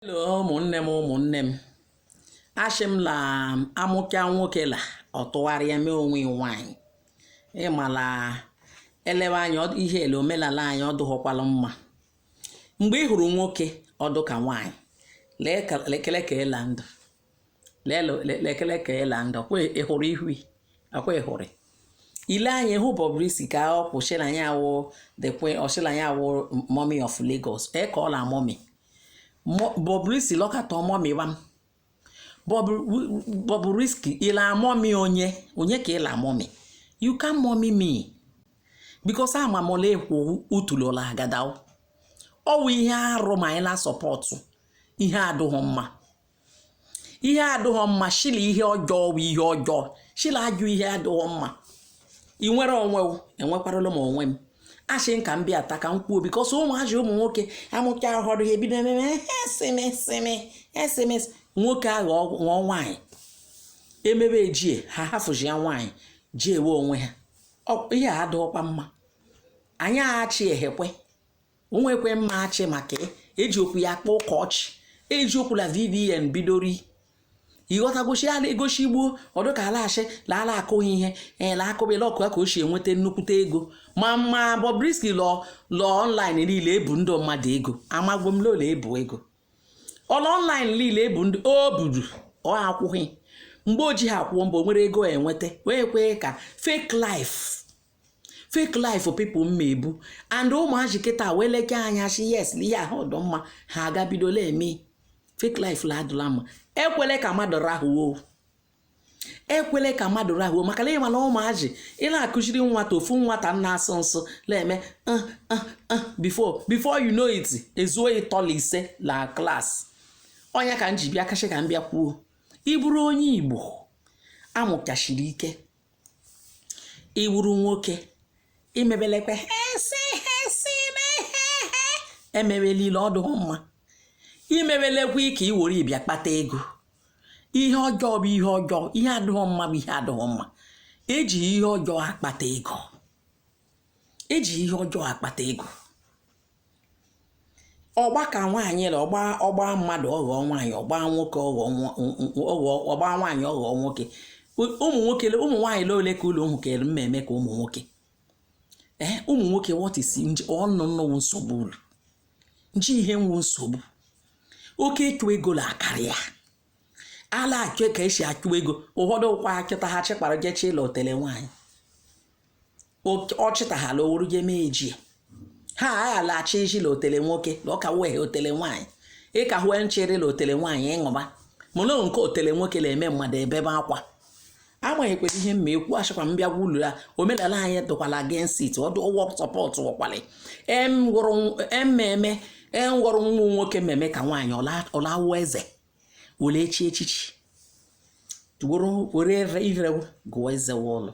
Hello ụmụnne m ụmụnne m ashị m la amụka nwoke la ọ tụgharịa mee onwe ya nwaanyị ị ma la elewe anya ihe ele omelala anyị ọ dụghọkwala mma mgbe ị hụrụ nwoke ọ dụ ka nwaanyị lekele ka ịla ndụ lekele ka ịla nga kwa ịhụrụ ihu akwa ịhụrụ ile anyị hụ Bobrisky ka ọ kwu shị la ya wụ the queen ọ shị la ya wụ mommy of Lagos ee ka ọ la mommy Bobrisky lọkata mommy wa m Bobrisky ịla mommy onye onye ka ịla mommy you can't mommy me because ama m ole ekwu utulola agadaw ọ wụ ihe arụ ma anyị la support ihe adụghị mma ihe adịghọ mma shị la ihe ọjọọ bụ ihe ọjọọ shị la ọ wụ ihe adịghọ mma ị nwere onwe enwekwarala m onwe m ashị m ka m bịa taa ka m kwuo because ụmụazị ụmụ nwoke amụcha ahụrụ ya ebido ememe esemeseme esemes nwoke ahụ ṅụọ nwaanyị emebe ejie ha hafụzi ya nwaanyị ji ewe onwe ha ihe a adịghọkwa mma anyị ashị ehekwe onwekwe mma ashị maka eji okwu ya kpọọ ụka ọchị eji okwu la VDM bidori ịghọta gosi ala egosi igbo ọdụ ka ala ashị la ala akụghị ihe ee eh, la akụbela ọkụ ya ka o si enweta nnukwute ego ma ma Bobrisky lọ lọ online niile ebu ndị mmadụ ego amagbo m lola ebu ego ọ lọ online niile ebu ndị o buru ọ akwụghị mgbe o ji ha akwụọ mbọ nwere ego enweta wee kwee ka fake life fake life people mma ebu and ụmụazị kịta wee leke anya shi yes na ihe ahụ ọdụ mma ha agabidola eme fake life la adụla mma ekwele ka mmadụ rahuo ekwele ka mmadụ rahuo maka na ịma la ụmụazị ị la-akụziri nwata ofu nwata na-asụ nsụ na-eme uh, uh, uh, before before you know it ezuo ịtọ la ise la class ọ ya ka m ji bịa ka shị ka m bịa kwuo ịbụrụ onye igbo amụka shiri ike ị wụrụ nwoke imebelekwe hesi hesi emebelile ọ dụghị mma imebelekwa ka i were bịa kpata ego ihe ọjọọ bụ ihe ọjọọ ihe adịghị mma bụ ihe adịghị mma eji ihe ọjọọ akpata ego eji ihe ọjọọ akpata ego ọgba ka nwaanyị la ọgba ọgba mmadụ ọghọ nwaanyị ọgba nwoke ọghọ ọgba nwaanyị ọghọ nwoke ụmụ nwoke ụmụ nwaanyị le ole ka ụlọ ụmụ kere mma eme ka ụmụ nwoke ee eh, ụmụ nwoke wọtisi nje ọnụ nnọwụ nsogbu ulu nje ihe wụ nsogbu oke ịchụ ego la akarị ya ala achụ ka esi achụ ego ụfọdụ kwa achụta ha chịkpara jechie la otele nwaanyị ọ chịtaghala owuru je mee ejie ha aghalaghachi iji la otele nwoke na ọka wee otele nwaanyị ịka hue nchere la otele nwaanyị ịṅụba mana nke otele nwoke na-eme mmadụ ebebe akwa agbanyekwere ihe m na-ekwu achịkwa m bịa gwulu ya omenala anyị dụkwala against ọdụ ụgwọ support ọkwali ememe enwụrụ e nwa nwoke mmemme ka nwaanyị ọlawa eze were echi echichi were ire gụọ eze ụlọ